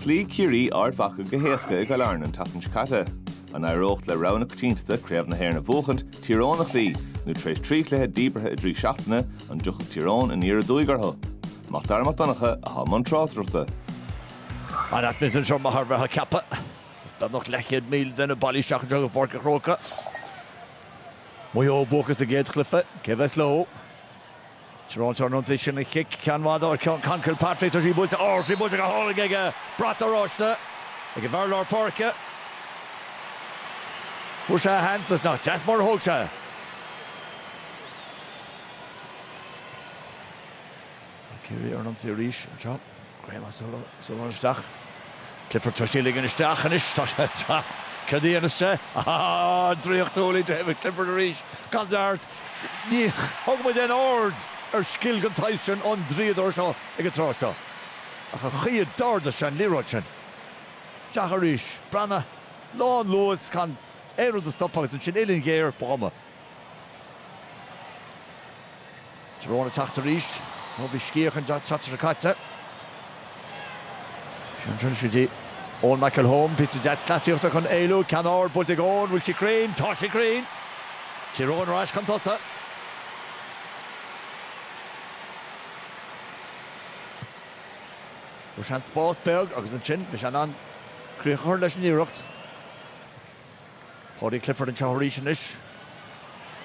Chloígh Ciarraí Ard Mhacha go héasca i gCill Airne an tseachtain seo caite. An éireodh le rogha na coitiantachta Craobh na hÉireann a bhuachaint, Tír Eoghain a chloí, nó tar éis trí chluiche díbeartha i dtrí seachtaine, an dtiocfadh Tír Eoghain aniar aduaidh orthu? Mac Dara Mac Donncha atá i mbun tráchtaireachta. An t-atmaisféar anseo mar a bheifeá ag ceapadh beagnach leathchéad míle duine bailithe isteach anseo go Páirc an Chrócaigh. Maigh Eo buacach sa gcéad chluiche, cé a bheas leo? Tír Eoghain ar an ionsaí anseo le cic ceann fada ó Conn Kilpatrick tá sí buailte ó sí buailte go hálainn aige brat oráiste ag an bhfear i lár páirce. Fuair sé a sheans is nach deas mar a thóg sé. Tá Ciarraí ar an ionsaí arís anseo. Graham O'Sullivan isteach. Clifford tar éis ligean isteach anois. Tá sé ag teacht. Céard a dhéanfas sé? Ááá! Draíochtúil ó David Clifford arís. Gan dabht, ní thugann muid aon aird ar scil den tsaghas sin ón draíodóir seo ag an tráth seo. Ach an chaoi a d'ardaigh sé an liathróid sin! Isteach arís. Breathnaigh. Lán luas. Gan aon rud á stopadh agus ansin uillinn ghéar. Ba chuma. Tír Eoghain ag teacht arís. Ó, bhí scíth acu an tseachtain seo caite. Seans anseo do Eoin McElholm, píosa deas cleasaíochta chun éalú, ceann ard, buailte ag Eoin, bhfuil sí cruinn? Tá sí cruinn! Tír Eoghain ar ais chun tosaigh. Fuair sé an spás beag agus ansin bhí sé in ann críoch a chur leis an iarracht. Paudie Clifford anseo arís anois.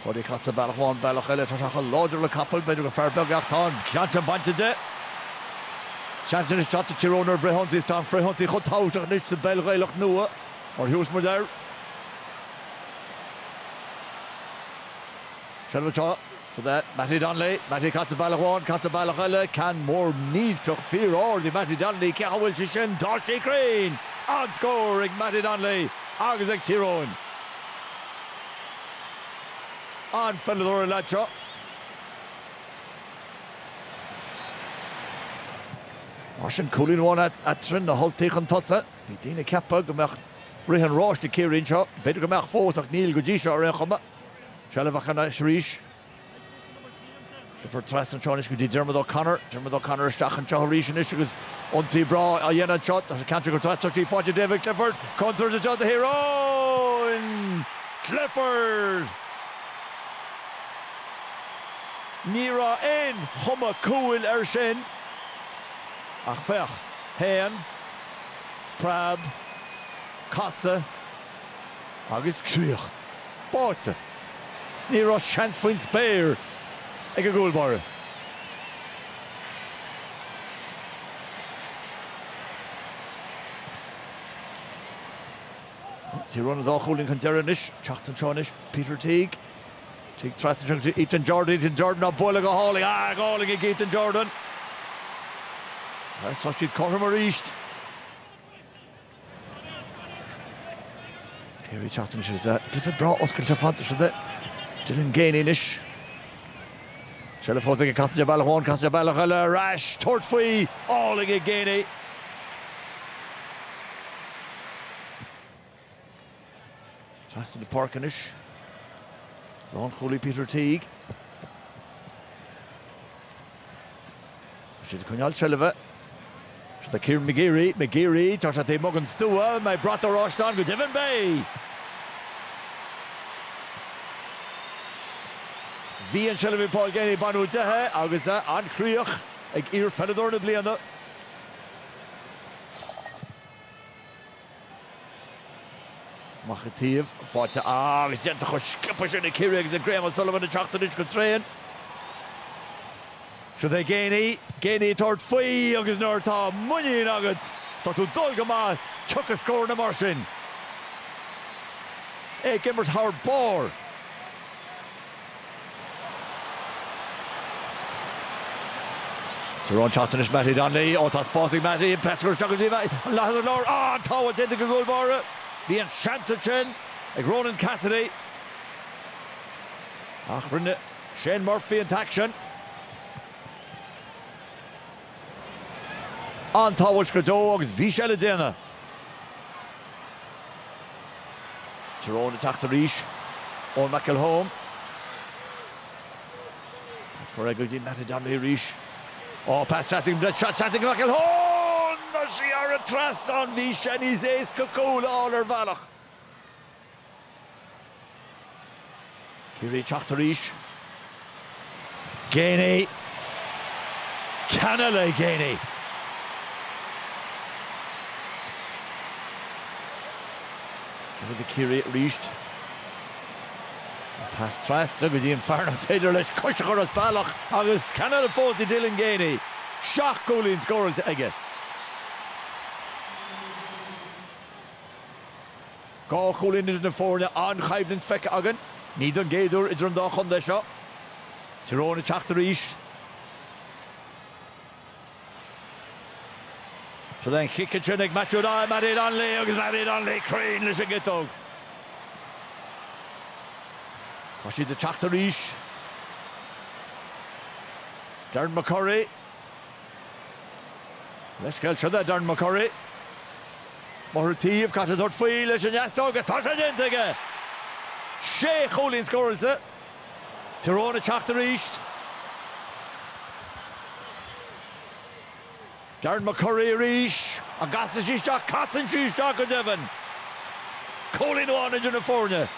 Paudie casta bealach amháin, bealach eile. Tá sé chomh láidir le capall, b'fhéidir gur fear beag é ach tá an ceann sin bainte de. Seans anois anseo ag Tír Eoghain ar an bhfrithionsaí is tá an frithionsaí chomh tábhachtach anois sa bpeil Ghaelach nua mar a thugas muid air. Seilbh anseo. ag Mattie Donnelly, Mattie casta bealach amháin, casta bealach eile, ceann mór millteach fíor-ard ag Mattie Donnelly, cén chaoi a bhfuil sé sin, tá sé cruinn! An-scór ag Mattie Donnelly agus ag Tír Eoghain. An-pheileadóir an lad seo. Mar sin, cúilín amháin eatarthu, na hUltaigh chun tosaigh. Bhí daoine ag ceapadh go mbeadh rith an ráis le Ciarraí anseo. B'fhéidir go mbeadh fós ach níl go dtí seo ar aon chuma. Seilbh acu anois arís. Clifford trasna anseo anois go dtí Diarmuid O'Connor. Diarmuid O'Connor isteach anseo arís anois agus ionsaí breá á dhéanamh anseo. Tá an ceann seo ag dul trasna, tá sí faighte ag David Clifford. Contúirt anseo do Thír Eoghain. Clifford. Ní raibh aon chuma cúil air sin ach féach, shéan, preab, casadh. Agus críoch báite. Ní raibh seans faoin spéir ag an gcúl báire. Tyrone dhá chúilín chun deireadh anois. Teacht anseo anois Peter Teague. Teague trasna go Ethan Jordan. Ethan Jordan á bualadh go hálainn. Ah, go hálainn ag Ethan Jordan. Tá siad cothrom arís. Ciarraí ag teacht anois is ea cluiche breá oscailte ar fad, seo é Dylan Geaney anois. Seilbh fós aige, casann sé bealach amháin, casann sé bealach eile ar ais, tabhairt faoi, álainn ag Geaney. Trasna na páirce anois, lánchúlaí Peter Teague. Tá siad ag coinneáil seilbhe. Seo é Kieran McGeary, McGeary, tá sé taobh amuigh den stua, beidh brat oráiste ann go deimhin, beidh! Bhí an tseilbh ag Paul Geaney baineadh de í agus é an-chríoch ag iarpheileadóir na bliana. Amach an taobh, faighte agus déanta chomh sciobtha sin ag Ciarraí agus ag Graham O'Sullivan ag teacht anois go tréan. Seo é Geaney, Geaney ag tabhairt faoi agus nuair atá muinín agat, tá tú dul go maith, tiocfaidh scóranna mar sin. É ag imirt thar barr. Tyrone ag teacht anois Mattie Donnelly ó tá spás ag Mattie an pas gearr isteach díobh an leathadh ar lár an tsábháil déanta ag an gcúl báire. Bhí an seans ansin ag Ronan Cassidy ach rinne Shane Murphy an t-aicsean. an-tsábháil go deo agus bhí sé le déanamh. Tyrone ag teacht arís Eoin McElholm. Pas gearr go dtí Mattie Donnelly arís. Ó, pas deas ag Brett Shot, seans ag McElholm! Tá sí thar an trasnán, bhí sé níos éasca cúl a fháil ar bhealach. Ciarraí ag teacht arís. Geaney. Ceann eile Geaney. Seo iad Ciarraí arís an pas trasna go dtí an fear nach féidir leis cois a chur as bealach agus ceann eile fós do Dylan Geaney. Seacht gcúilín scóráilte aige. Dhá chúilín idir na foirne, an-choimhlint feicthe againn, ní don gcéad uair idir an dá chontae seo. Tyrone ag teacht arís. Sa den chic ansin ag Matthew Doyle, Mattie Donnelly agus Mattie Donnelly cruinn leis an gciotóg. Tá siad ag teacht arís. Darren McCurry. Leithscéal trína Darren McCurry. Máthair Taobh caite ag tabhairt faoi leis an deasóg agus tá sé déanta aige! Sé chúilín scóráilte. Tyrone ag teacht arís. Darren McCurry arís. An gcasann sí isteach? Casann sí isteach go deimhin! Cúilín amháin idir na foirne.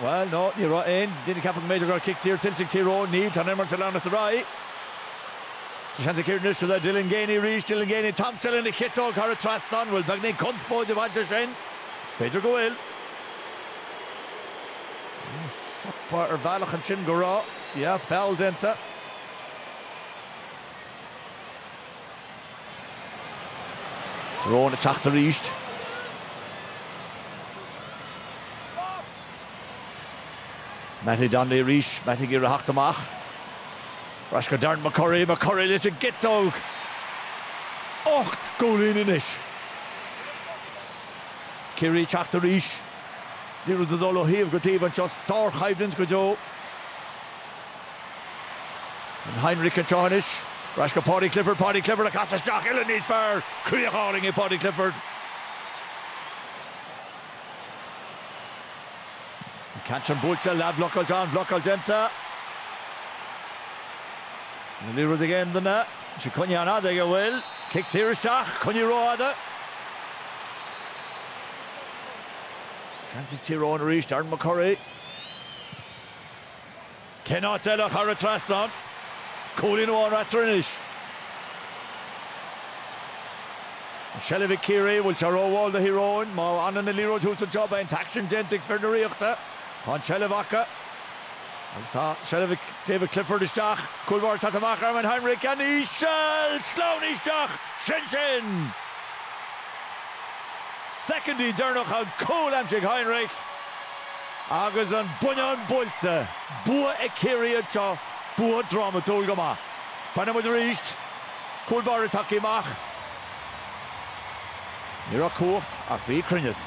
Bhuel, no, ní raibh aon, daoine ag ceapadh go mb'fhéidir go raibh cic saor tuillte ag Tír Eoghain. Níl, tá an imirt ag leanacht ar aghaidh. Tá seans ag Ciarraí anseo, Dylan Geaney arís, Dylan Geaney, Tom O'Sullivan an chiotóg thar an trasnán. Bhuel, beagnach conspóid ag baint leis sin. B'fhéidir go bhfuil. Shílfeá ar bhealach ansin go raibh. Yeah, feall déanta. Tyrone ag teacht arís. Mattie Donnelly arís, Mattie ag iarraidh a theacht amach. Ar ais go Darren McCurry, McCurry leis an gciotóg. Ocht gcúilín anois. Ciarraí ag teacht arís. Liathróid ag dul ó thaobh go taobh anseo, sárchoimhlint go deo. An Heinrich anseo anois. Ar ais go Paudie Clifford, Paudie Clifford ag casadh isteach, uilleann níos fearr, críoch álainn ag Paudie Clifford. Ceann sin buailte, leathbhlocáilte, an-bhlocáil déanta. An liathróid ag aon duine, sí coinnithe an-fhada go bhfuil, cic saor isteach, coinnithe rófhada. Seans ag Tír Eoghain arís, Darren McCurry. Cén áit eile ach thar an trasnán? Cúilín amháin eatarthu anois. An tseilbh ag Ciarraí, an bhfuil sé rómhall do Thír Eoghain? Má fhanann an liathróid thuas anseo beidh an t-aicsean déanta ag fir na Ríochta. Tá an tseilbh acu. Agus tá seilbh ag David Clifford isteach. Cúl báire tagtha amach Armin Heinrich an-íseal! Slán isteach! Sin sin! Soicindí deireanacha an cúl aimsithe ag Heinrich. Agus an buinneán buailte, bua ag Ciarraí anseo, bua drámatúil go maith. Breathnóidh muid arís, cúl báire tagtha amach. Ní raibh cumhacht ach bhí cruinneas.